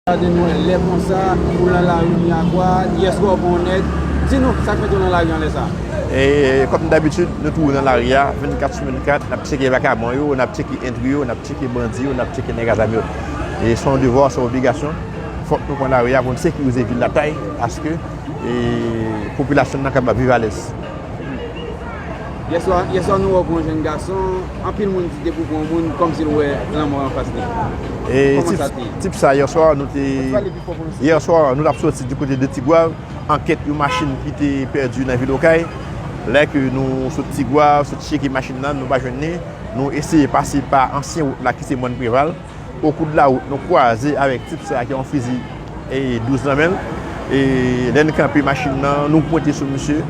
Gade nou lè konsa ou lan lari miyagwa yes wè w pran yon nèg di nou sak mete w lan lari an lè sa. Kòm dabitid nou toujou lan lari a 24 sou 24 nap tcheke vakabon yo nap tcheke entri yo nap tcheke bandi yo nap tcheke nèg a zam yo se yon devwa se yon obligasyon fòk nou pran lari a pou nou sekirize vil la tay aske popilasyon nan kapab viv alèz. Yèswa, yèswa nou wè w pou yon jèn gason, anpil moun di depi w pou yon moun kòmsi l wè lanmò anfas li. Kòman sa te ye? Tip sa yèswa nou te, yèswa nou tap soti di kote de Tigwav ankèt yon machin ki te pèdi nan vil Okay. Lè ke nou sot Tigwav, sot cheke machin nan, nou pa jwenn li. Nou eseye pase pa ansyen wout la ki se Mòn Preval. O kou de la wout nou kwaze avèk tip sa ki yon fizi 12 nan men l. E lè n kanpe machin nan, nou pwente sou misye.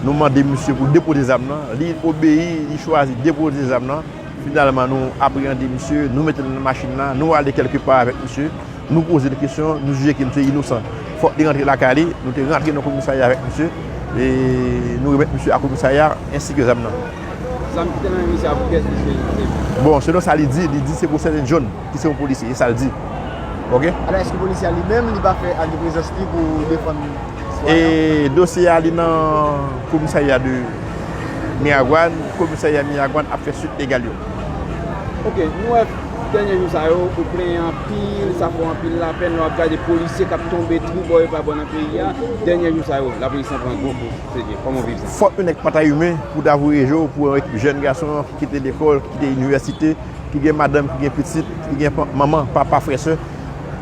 Nou mande misye pou l depoze zam nan. Li obeyi, li chwazi depoze zam nan. Finalman nou apreyande misye, nou mete l nan machin nan, nou ale kèlke pa avèk misye. Nou poze l kesyon, nou jije ke misye inosan. Fòk li rantre lakay li. Nou te rantre nan komisarya avèk misye. E nou remèt misye a komisarya ensi ke zam nan. Zam ki te nan men misye a pou kiyès misye te sèvi? Bon, selon sa li di, li di se pou Sèten John ki se yon polisye, e sa l di. Ok. Alò èske polisye a li menm li pa fè ak de prezans li pou defann sitwayen an? E dosye a li nan komisarya de Miragwàn, komisarya Miragwàn ap fè swit legal yo. Ok, nou wè dènye jou sa yo ou plenyen anpil, sa fè w anpil lapèn lè w ap gade polisye k ap tonbe twou bò e pa bò nan peyi a, dènye jou sa yo lapolis lan pran gwo kout. Fòk yon nèg pa ta imen pou ta voye je w pou yon ekip jèn gason ki kite lekòl, ki kite inivèsite, ki gen madanm, ki gen pitit, ki gen manman, papa, frè, sè,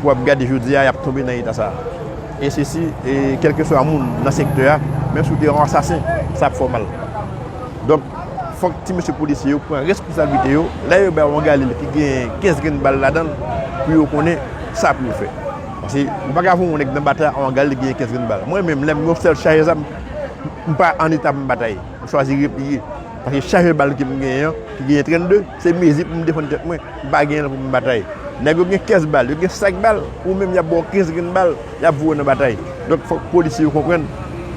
pou ap gade jodi a y ap tonbe nan eta sa a. E se si, e kèlkeswa moun nan sektè a, menm si w te yon ansasen, sa ap fè w mal. Donk, fòk ti mesye polisye yo pran responsablite yo, lè yo bay yon galil ki gen 15 grenn bal ladan l, pou yo konnen sa pou yo fè. Paske ou paka voye yon nèg nan batay anvan gad li genyen 15 grenn bal. Mwen menm lèm gen yon sèl chajè zam m pa an eta pou m batay. M chwazi repliye. Paske chajè bal ke m genyen an ki genyen 32 se mezi pou m defann tèt mwen. M pa genyen l pou m batay. Nèg yo gen 15 bal, yo gen sak bal. Ou menm y ap ba w 15 grenn bal, y ap voye w nan batay. Donk fòk polisye yo konprann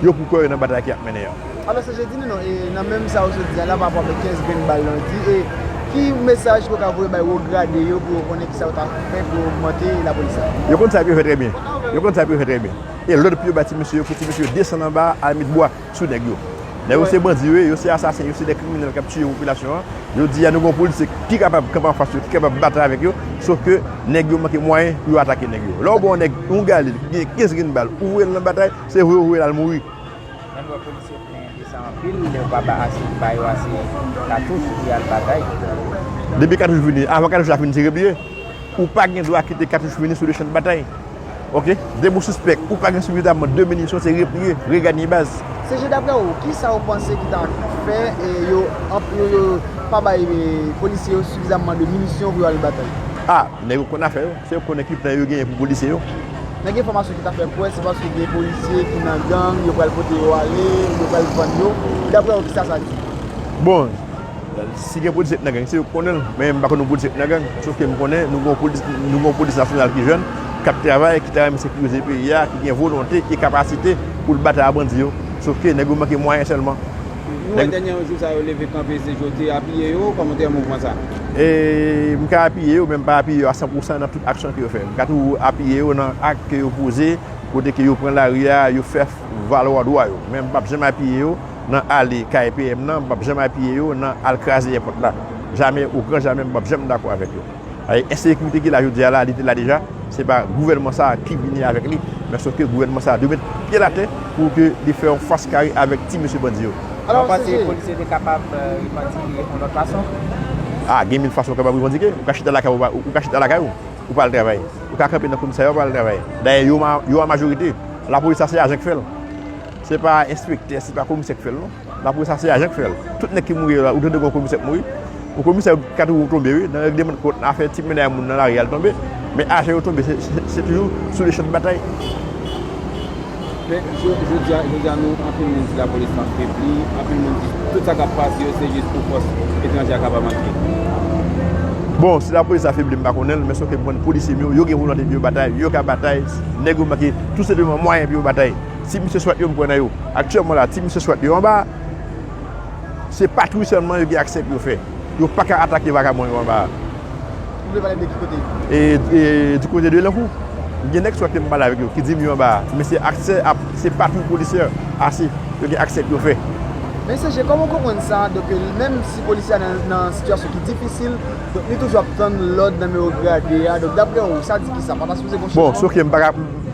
yo pou kò yo nan batay ke y ap mennen an. Alò se jedi nou nan e nan menm sa ou sot di a la pa rapò avèk 15 grenn bal lan di e ki mesaj ke w ka voye bay wo grade yo pou yo konnen kisa yo ta fè pou yo ogmante lapolis la? Yo konn sa pou yo fè trè byen. Yo konn sa pou yo fè trè byen. E lòd pou yo bay ti mesye yo pou ti mesye yo desann anba a al met bwa sou nèg yo. Nèg yo se bandi yo ye, yo se asasen, yo se de kriminèl k ap tiye popilasyon an. Jodi a nou gen yon polisye ki kapab kanpe anfas yo, ki kapab batay avèk yo, sof ke nèg yo manke mwayen pou yo atake nèg yo. Lè ou ba yon nèg yon galil ki gen 15 grenn bal, ou voye l nan batay, se voye ou voye l al mouri. Lè n wè polisye plen de sa anpil, yo pa ba ase ba yo ase katouch pou y al batay. Depi katouch fini, avan katouch la fin tire bie, ou pa gen dwa kite katouch fini sou le chan de batay. Ok? Depi w sispèk ou pa gen sifizaman de minisyon, se repliye, reganye baz. CG, Daprè ou, ki sa ou panse ki ta fè yo pa bay polisye yo sifizaman de minisyon pou yo al batay? A! Nèg yo konn afè yo. Se yo konnen ki plan yo genyen pou polisye yo. Men gen enfòmasyon ki ta fè kwè se paske gen polisye ki nan gang, yo pral pote yo ale, yo pral vann yo. Daprè ou kisa sa di? Bon, si gen polisye ki nan gang se yo ki konnen l. Men m pa konnen polisye ki nan gang. Sof ke m konnen nou gen yon polis nasyonal ki jèn, k ap travay, ki ta renmen sekirize peyi a, ki gen volonte e kapasite pou l batay ak bandi yo. Sof ke nèg yo manke mwayen sèlman. Nou wè dènyè yon jou sa yo leve kanpe se Jouthe apiye yo, kòman w te wè mouvman sa? E m ka apiye yo men m pa apiye yo a san pou san nan tout aksyon ke yo fè. M ka tou apiye yo nan ak ke yo poze, kote ke yo pran lari a, yo fè valwa dwa yo. Men m pap janm apiye yo nan ale kay PM nan, m pap janm apiye yo nan al kraze èpòt la. Jamè, o gran jamè m pap janm dakò avèk yo. Paske ensekirite ki la jodi a la, li te la deja, se pa gouvènman sa a ki vini avèk li, men sòf ke gouvènman sa a dwe met pye l atè pou ke li fè yon fas kare avèk ti mesye bandi yo. Ou panse polisye te kapab revandike yon lòt fason? A, gen mil fason ou kapab revandike. Ou ka chita lakay ou, ou ka chita lakay ou, ou pa al travay. Ou ka kanpe nan komisarya ou pa al travay. Dayè yo an majorite. Lapolis sa se ajan ki fè l. Se pa enspektè, se pa komisè ki fè l non. La polis ase ajan k fèl. Tout nèg ki mouri yo la ou tande gon komisè k mouri. Ou komisè kat wou tonbe wi nan regleman kont nan afè ti mennay moun nan lari al tonbe. Men ajan yo tonbe se toujou sou le chan de batay. Men jodi a jodi a nou anpil moun di la polis lan febli, anpil moun di tout sa kap pase yo se jis pou fòs etranje a kapab antre. Bon si la polis la febli m pa konnen l men se w ke m konnen polisye m yo yo gen volonte pou yo batay, yo ka batay, nèg yo manke tou senpleman mwayen pou yo batay. Ti misye swat yo m pran nan yo. Aktyèlman la, ti misye swat yo anba a, se patwouy sèlman yo gen aksè pou yo fè. Yo pa ka atake vakabon yo anba a. Ou vle pale m de ki kote? E di kote de Lankou. Gen nèg swat ke m pale avèk yo ki di m yo anba a, men se aksè a, se patwouy polisyè ase yo gen aksè pou yo fè. Men CG, kòman ou konprann sa, donk menm si polisye a nan sitiyasyon ki difisil, donk li toujou ap tann lòd nan men wo grade a, donk daprè ou, sa di kisa? Pa ta sipoze gen yon chanjman? Bon, se ok, m pa ka.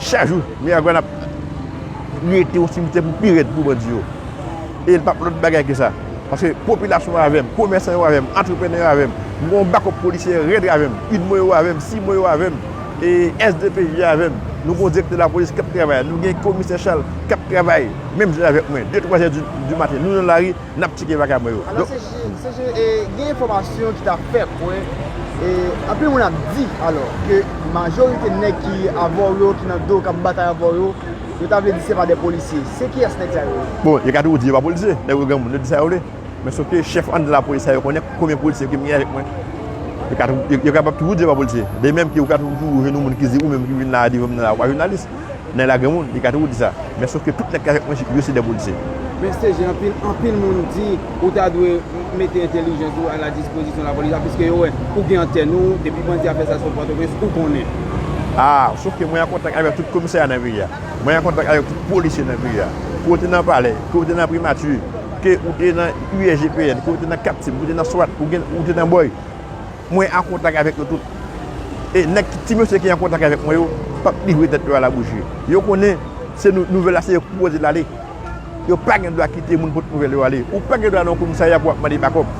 Chak jou, Miragwàn ap rete yon simitè pou pi rèd pou bandi yo. E l pa p lòt bagay ke sa. Paske popilasyon an avè m, komèsan yo avè m, antreprenè yo avè m. M gen yon bakòp polisyè rèd avè m. Udmo yo avè m, CIMO yo avè m. E SDPJ yo avè m. Nou gen yon direktè lapolis k ap travay. Nou gen komisè Chal k ap travay menm jan avèk mwen. De twa zè di maten, nou nan lari. Nap tcheke bagay mwen yo. Alò CG e gen enfòmasyon ki ta fè kwè e anpil moun ap di alò ke majorite nèg ki avè w yo ki nan do w kap batay avè w yo, yo ta vle di se pa de polisye. Se kiyès nèg sa yo ye? Bon yo ka toujou di yo pa polisye, nèg yo granmoun yo di sa yo vle. Men sof ke chèf anndan lapolis sa yo konnen konbyen polisye ki gen avèk mwen. Yo kapab toujou di yo pa polisye. De menm ke ou ka toujou jwenn yon moun ki di ou menm ki vin la devan m nan la ou pa jounalis. Nèg la gen moun, li ka toujou di sa. Men sof ke tout nèg ki avèk mwen jip yo se dè polisye. Men CG anpil, anpil moun di ou ta dwe mete entelijans ou a la dispozisyon la polis la piske yo wè ou gen antèn ou, depi bandi a fè sa sou Pòtoprens ou konnen. Aa, sof ke mwen an kontak avèk tout komisè a nan peyi a. Mwen an kontak avèk tout polisye nan peyi a. Ke ou te nan palè, ke ou te nan primati, ke ou te nan USGPN, ke ou te nan Captiv, ke ou te nan swat, ou te nan boy. Mwen an kontak avèk yo tout. E nèg ki, ti mesye ki an kontak avèk mwen yo, p ap livre tèt yo a labouji. Yo konnen se nou, nouvèl la se yo ki pwopoze l ale. Yo pa gen dwa kite moun pot nouvèl yo ale. Ou pa gen dwa nan yon komisarya pou w ap mande bakòp.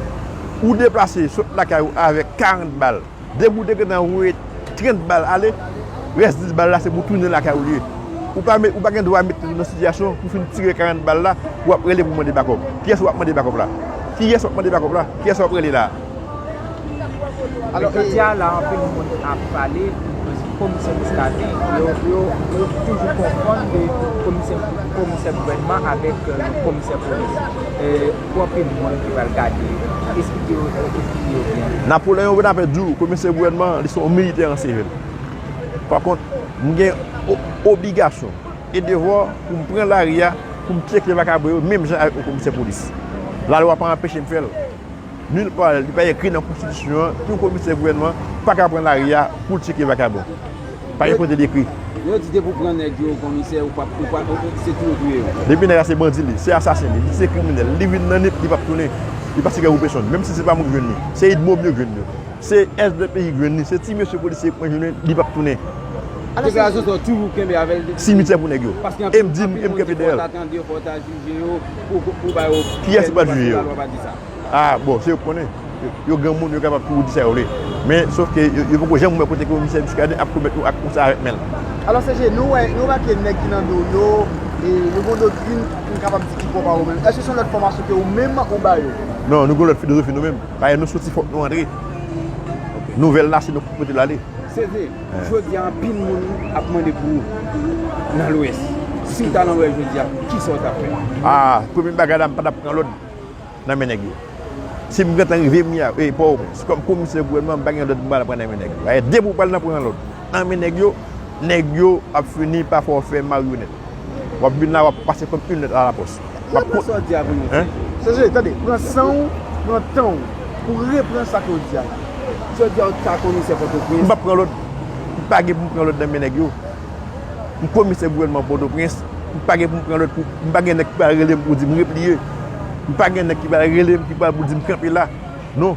Ou deplase sot lakay ou avèk 40 bal. Depi ou te gentan voye 30 bal ale, rès 10 bal la se pou tounen lakay ou li ye. Ou pa met, ou pa gen dwa mete tèt ou nan sitiyasyon pou fin tire 40 bal la pou w ap rele pou mande bakòp. Kiyès w ap mande bakòp la? Kiyès w ap mande bakòp la? Kiyès w ap rele la a? Alò jodia la anpil moun ap pale pou komisè Muscadin, yo toujou konfonn de komisè gouvènman avèk yon komisè polis. Pou anpil moun ki pral gade yo, esplike yo byen. Napoleon Bonaparte di w komisè gouvènman li se yon militè an sivil. Pa kont, m gen obligasyon e devwa pou m pran lari a pou m tyeke vakabre yo menm jan avèk yon komisè polis. Lalwa pa anpeche m fè l. Nul part li pa ekri nan konstitisyon an yon komisè gouvènman an pa ka pran lari a pou l tcheke vakabon. Pa gen kote li ekri. Lè yo di depi w pran nèg yo komisè ou pa se touye w touye yo. Depi nèg la se bandi li, se asasen li, li se kriminèl, li vin nan nip li pap tounen. Li pa sike pou pesonn. Menm si se pa mwen ki jwenn li. Se idmo m yo ki jwenn yo. Se svp ki jwenn li. Se ti mesye polisye yo ki pran li jwenn li pap tounen. Deklarasyon sa w toujou kenbe avè l depi. Simityè pou nèg yo. E m di m e m kenbe dèyè l. Pou ba yo pyès pou pral jije yo. Paske lalwa pa di sa. A bon, se yo ki konnen. Yo granmoun, yo kapab toujou di sa yo vle. Men, sof ke yo poko janm wè kote komisè Muscadin ap komèt yon ak konsa avèk men l. Alò CG, nou wè, nou remake nèg ki nan do w yo, yo gen yon doktrin m kapab di ki pwòp a ou menm. Èske se yon lòt fòmasyon ke ou menm ou ba yo? Non, nou gen yon lòt filozofi nou menm. Paske nou soti fòk nou antre. Nouvèl la se nou ki pou pote l ale. CG. Jodi a anpil moun ap mande pou ou nan lwès. Siw ta nan lwès jodi a kisa ou tap fè? Aah premye bagay la m patap pran lòd nan men nèg yo. Sim gentan rive m ya e pòwopens kòm komisè gouvènman m pa gen lòd m pral pran nan men nèg yo. Ayè depi ou pral nan pran lòd nan men nèg yo, nèg yo ap fini pa fè w fè maryonèt. Wap vin la wap pase kom yn let a la pos. Wap pran sa w di a pou yon ti jan. Sezee, tande, pran san w, pran tan w pou w repran sa ke w di a la. Si yo di a w ta komisè Pòtoprens. M pap pran lòd. M pa gen pou m pran lòd nan men nèg yo. M komisè gouvènman Pòtoprens. M pa gen pou m pran lòd pou, m pa gen nèg ki pral rele m pou di m repliye. M pa gen nèg ki pral rele m ki pral pou di m kanpe la. Non.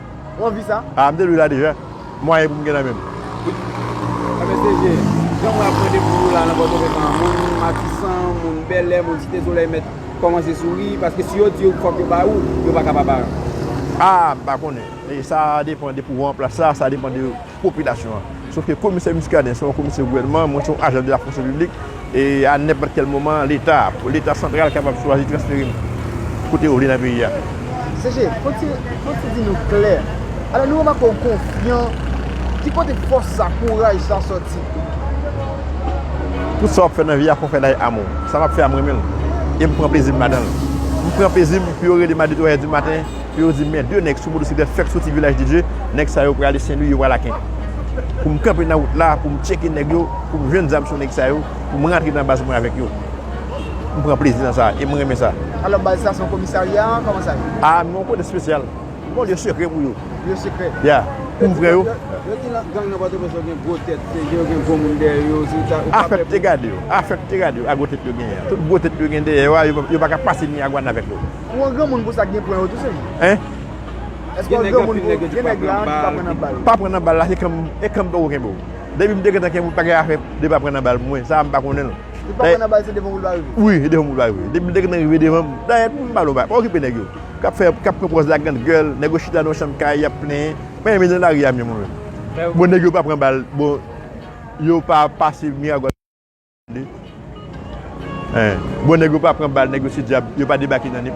Ou anvi sa? Ah m te li la deja. Mwayen pou m gen nan men m. Sa fè se je. Jan mwen ap mande pou nou la nan Pòtoprens moun Matisan, moun Bèlè, moun Site Solèy mèt kòmanse souri paske si yo di yo fòk yo ba ou, yo pa ka pa ba. Ah m pa konnen. Sa depan de pouvo an plas la, sa depan de. popilasyon an. Sof ke komisè Muscadin se yon komisè gouvènman, mwen se yon ajan de la fonksyon piblik, e a nenpòt kèl moman leta, leta santral kapab chwazi transfere m kote yo vle nan peyi a. CG, fòk ti, fòk ti di nou klè, alò nou remake w konfyan, ki kote fòs sa, kouraj sa sòti? Tout sa w ap fè nan vi a fò w fè l avèk amou. Sa m ap fè a m renmen l, e m pran plezi m ladan l. M pran plezi m pou yo rele m a de twa è di maten. Pou yo di men 2 nèg sou motosiklèt fèk soti Vilaj de Dye, nèg sa yo prale Senlwi yo pral Aken. Pou m kanpe nan wout la, pou m tcheke nèg yo, pou m jwenn zam sou nèg sa yo, pou m rantre nan baz mwen avèk yo. M pran plezi nan sa e m renmen sa. Alò baz sa se yon komisarya, kòman sa ye? A nou yon kote espesyal. Yon lye sekrè pou yo. Lye sekrè? Ya. Pou vrè yo. Yo di nan gang nan Pòtoprens yo gen gwo tèt, se yo gen gwo moun dèyè yo, se ta, ou pa pè pou. Afè te gade yo, afè te gade yo ak gwo tèt yo genyen an. Tout gwo tèt yo gen dèyè yo a, yo pa ka pase Miyagwàn avèk yo. Ou an granmoun pou sa k gen pwen yo tou sem. Hein? Eske w an granmoun pou gen nèg la ki pa pran nan bal. Pa pran nan bal la se kanm e kanm poko kenbe w. Depi m te gentan kenbe w pa gen afè de pa pran nan bal mwen sa a m pa konnen l. Li pa pran nan bal se devan w li va rive. Wi se devan m li va rive. Depi m te gentan rive devan m. Dayè m pa lonba. Pa okipe nèg yo k ap fè k ap pran pòz la grand gèl. Nèg yo chita nan yon chanm kay y ap plenyen. Mwen renmen nan lari a mwen menm. Bon nèg yo pa pran bal bon yo pa pase Miragwàn. Bon nèg yo pa pran bal nèg yo se dyab yo pa debake nan nip.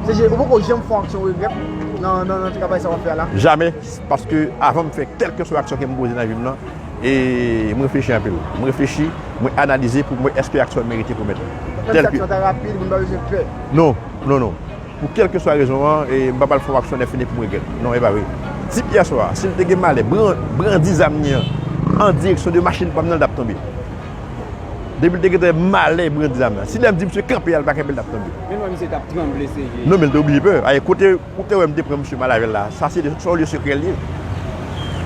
CG ou poko janm fon aksyon regrèt nan travay sa wap fè a la? Jamè, paske avan m fè kèlkeswa aksyon ke m poze nan vi m lan, m reflechi anpil. M reflechi, mwen analize pou m wè èske aksyon an merite komèt. Menm si aksyon an ta rapid, moun pa bezwen pè? Non, non non. Pou kèlkeswa rezon an, m pa pral fè yon aksyon lèfini pou m regrèt. Non, e pa vre. Tip yè swa a, si l te gen malè brandi zam li an an direksyon de machin pa m nan, l t ap tonbe. Depi l te gentan gen malè brandi zam nan. Si lè m di misye kanpe a l pa kenbe, l t ap tonbe. Men m wè misye t ap tranble sèje. Non, men l te oblije pè. Ayè, kote ou te wè m te pran misye mal avè l la, sa se yon lye sekrè l ye.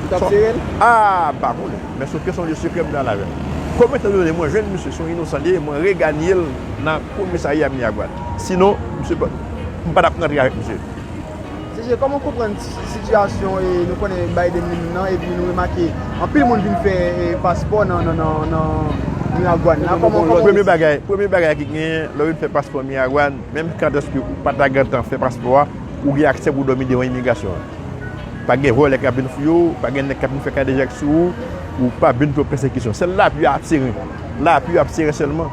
Ou t ap sere l? A! M pa konnen. Men sofke se yon lye sekrè m te al avè l. Kòm etandone mwen jwenn misye se yon inosan li ye, mwen reganye l nan komisarya Miragwàn. Sinon, msye pa, m pa tap rantre avèk msye. CG, kòman w konprann sitiyasyon nou konnen Biden li menm nan epi nou remake anpil moun vin fè paspò nan Miragwàn la, kòman w wè sa? Premye bagay ki genyen, lè w vin fè paspò Miragwàn, menm kantèske ou pa ta gentan fè paspò a, ou gen aksè pou w dòmi devan imigrasyon an. Pa gen vòlè k ap vin fouye w, pa gen nèg k ap vin fè kadejak sou ou, ou pa vin pran pèsekisyon. Sèl lapi yo ap sere, lapi yo ap sere sèlman.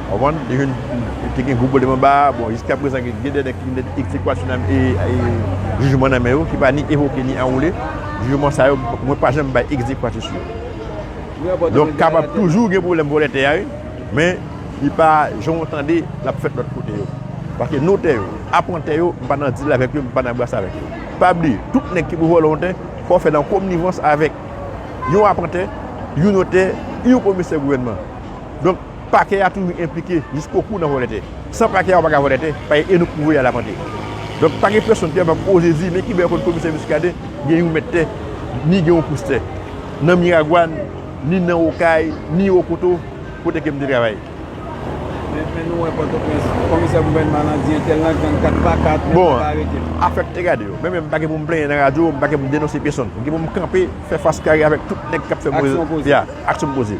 Konprann? Li vin te gen gwo pwoblèm anba a. Bon, jiska prezan gen gen de nèg ki vin gen ekzekwasyon nan e jijman nan men yo ki pa ni evoke ni anwoule. Jijman sa yo mwen pa janm bay ekzekwasyon sou yo. Donk kapab toujou gen pwoblèm vòlè tè a wi. Men li pa jan w tande l ap fèt lòt kote yo. Paske notè yo, apantè yo, m pa nan dil avèk yo, m pa nan bras avèk yo. Pa bliye, tout nèg ki pou vòlè yon tè, fò w fè nan komnivans avèk yon apantè, yon notè, yon komisè gouvènman. Donk, Pakè a toujou enplike jisko kou nan vòlè tè. San pakè a ou pa ka vòlè tè, paye e nou pwouve y al apante. Donk pa gen pèsonn ki ap ap oze di men ki bè kont komisè Muscadin gen yon mèt tè, ni gen yon pous tè. Nan Miragwàn, ni nan Okay, ni Okoto, kote ke m te travay. Men nou wè Pòtoprens, komisè gouvènman lan di entèl lan gang 4 pa 4, men pa ka arete l. Bon, afè tè gade yo. Mwen menm m pa gen pou m plenyen nan radyo, m pa gen pou m denonse pèsonn. M gen pou m kanpe, fè fas kare avèk tout nèg k ap fè move. Aksyon poze. Ya, aksyon poze.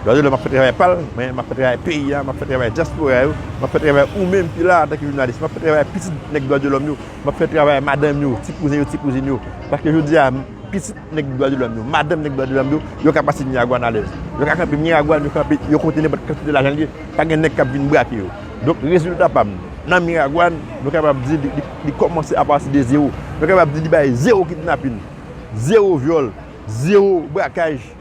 Dwazo lè m ap fè travay pa l, men m ap fè travay peyi a, m ap fè travay dyaspora yo, m ap fè travay ou menm ki la a antanke jounalis, m ap fè travay pitit nèg Dwadyolòm yo, m ap fè travay madanm yo, ti kouzen yo, ti kouzin yo. Paske jodi a, pitit nèg Dwadyolòm yo, madanm nèg Dwadyolòm yo, yo ka pase Miragwàn alèz. Yo ka kanpe Miragwàn, yo kanpe yo kote nenpòt kantite lajan l ye, pa gen nèg k ap vin brake yo. Donk rezilta pa m nan Miragwàn, nou kapab di li kòmanse apati de zewo. Nou kapab di li bay zewo kidnapin, zewo vyòl, zewo brakaj.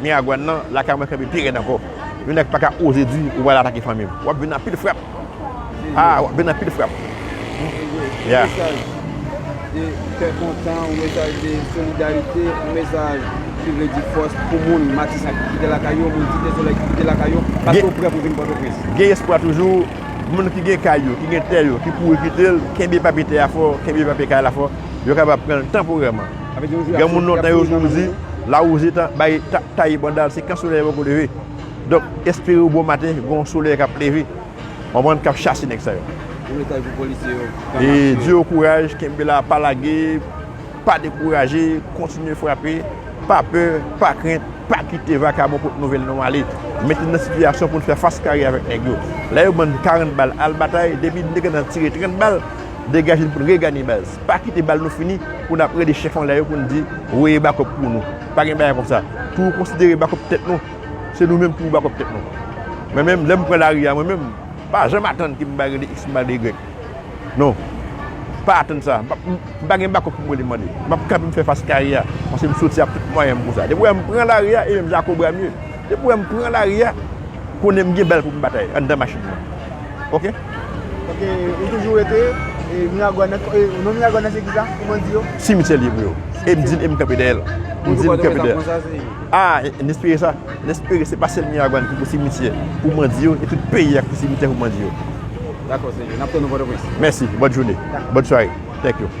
Miagwan nan lakay mwen kenbe pi rèd ankò. Yon nèg paka oze di ou pral atake fanmim. Wap vin anpil frap. Aah wap vin anpil frap. Anyway, yon mesaj de kè kontan, yon mesaj de solidarite, yon mesaj ki vle di fòs pou moun Matisan ki kite lakay yo, moun Site Solèy ki kite lakay yo, paske yo prè pou vin Pòtoprens. Gen espwa toujou, moun ki gen kay yo, ki gen tè yo, ki kouri kite l, kenbe papye tè a fò, kenbe papye kay la fò, yo kapab pran l tanporèman. Gen moun lontan yo toujou di, lawouze ta bay taye banda l se kan solèy poko leve. Donk, espere bon maten gen yon solèy k ap leve, konprann, k ap chase nèg sa yo. E di yo kouraj, kenbe la, pa lage, pa dekouraje, kontinye frape, pa pè, pa krent, pa kite vakabon pot nouvèl nou ale. Mete nou nan sitiyasyon pou nou fè fas kare avèk nèg yo. Lè yo ban n 40 bal, al batay, depi nèg la nan tire 30 bal, degaje n pou n regane baz. Pa kite bal nou fini pou n ap rele chèf anlè yo pou n di, voye bakòp pou nou. Pa gen bagay konsa. Pou nou konsidere bakòp tèt nou, se nou menm ki pou bakòp tèt nou. Mwen menm, lè m pran lari a, mwen menm, m pa janm atann ke m va rele X, m va rele Y. Non. M pa atann sa. M pa gen bakòp pou m rele mande. M ap kanpe m fè fas kare a, paske m soti ak tout mwayen m pou sa. Depi w wè m pran lari a, e menm jan ak Obramye. Depi wè m pran lari a, konnen m gen bal pou m batay anndan machin nan. Ok. Ok, ou toujou rete Miragwàn nan, non Miragwàn nan se ki sa pou bandi yo? Simityè l ye pou yo. E m di e m kanpe dèyè l. M di m kanpe dèyè l. A, n espere sa. N espere se pa sèl Miragwàn ki pou simityè pou bandi yo e tout peyi a ki pou simityè pou bandi yo. Dakò, se vre. N ap tann ou Pòtoprens. Mèsi. Bòn joune. Bòn sware. Thank you.